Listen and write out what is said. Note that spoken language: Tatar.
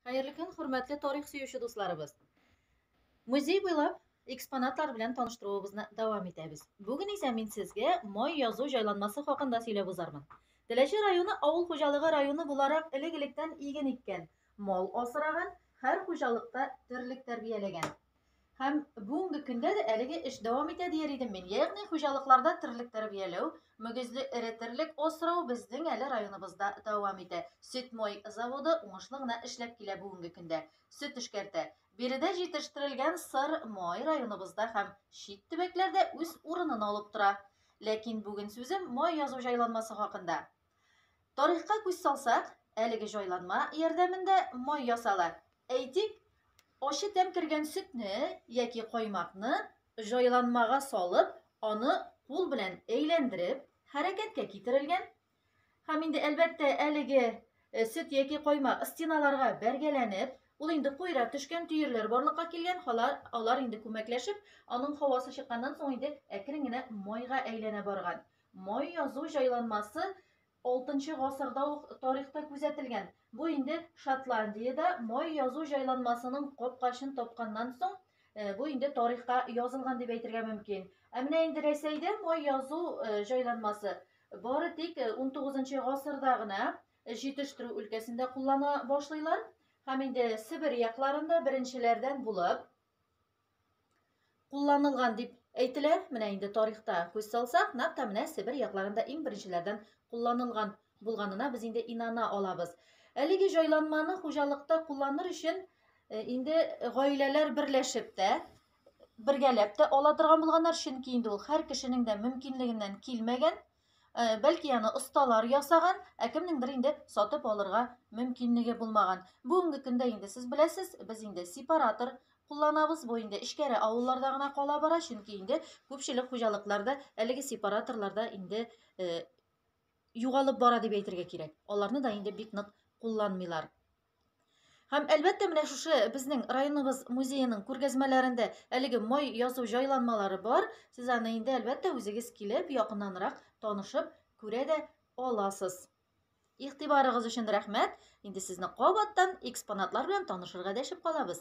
Хәерле көн, хөрмәтле тарих сөюче дусларыбыз. Музей буйлап экспонатлар белән таныштыруыбызны дәвам итәбез. Бүген исә мин сезгә май язу җайланмасы хакында сөйләп узармын. Теләче районы авыл хуҗалыгы районы буларак элек-электән иген иккән, мал асраган, һәр хуҗалыкта терлек тәрбияләгән. Һәм бүгенге көндә дә әлеге эш дәвам итә дияр идем мин. Ягъни хуҗалыкларда терлек тәрбияләү, мөгезле эре терлек асрау безнең әле районыбызда дәвам итә. Сөтмой заводы уңышлы гына эшләп килә бүгенге көндә. Сөт эшкәртә. Биредә җитештерелгән сыр май районыбызда һәм чит төбәкләрдә үз урынын алып тора. Ләкин бүген сүзем май язу җайланмасы хакында. Тарихка күз салсак, әлеге җайланма ярдәмендә май ясала. Әйтик, ачы тәм кергән сөтне яки каймакны җайланмага салып, аны кул белән әйләндереп, хәрәкәткә китерелгән. Һәм инде әлбәттә әлеге э, сөт яки каймак стеналарга бәргәләнеп, ул инде куйра төшкән төерләр барлыкка килгән, алар, алар инде күмәкләшеп, аның һавасы чыкканнан соң инде әкрен генә майга әйләнә барган. Май язу җайланмасы алтынчы гасырда ук тарихта күзәтелгән. Бу инде Шотландиядә май язу җайланмасының капкачын тапканнан соң, э, бу инде тарихка язылган дип әйтергә мөмкин. Ә менә инде Рәсәйдә май язу э, җайланмасы бары тик 19 э, гасырда гына җитештерү өлкәсендә куллана башлыйлар һәм инде Себер якларында беренчеләрдән булып кулланылган дип әйтелә. Менә инде тарихта күз салсак, нәкъ тә менә Себер якларында иң беренчеләрдән кулланылган булганына без инде инана алабыз. Әлеге җайланманы хуҗалыкта кулланыр өчен э, инде гаиләләр берләшеп тә, бергәләп тә ала торган булганнар, чөнки инде ул һәр кешенең дә мөмкинлегеннән килмәгән. Э, бәлки аны осталар ясаган, ә кемнеңдер инде сатып алырга мөмкинлеге булмаган. Бүгенге көндә инде сез беләсез, без инде сепаратор кулланабыз. Бу инде эчкәре авылларда гына кала бара, чөнки инде күпчелек хуҗалыкларда әлеге сепараторларда инде э, югалып бара дип әйтергә кирәк. Аларны да инде бик нык кулланмыйлар. Һәм әлбәттә менә шушы безнең районыбыз музееның күргәзмәләрендә әлеге май язу җайланмалары бар. Сез аны инде әлбәттә үзегез килеп, якыннанрак танышып күрә дә аласыз. Игътибарыгыз өчен рәхмәт. Инде сезне кабаттан экспонатлар белән танышырга дәшеп калабыз.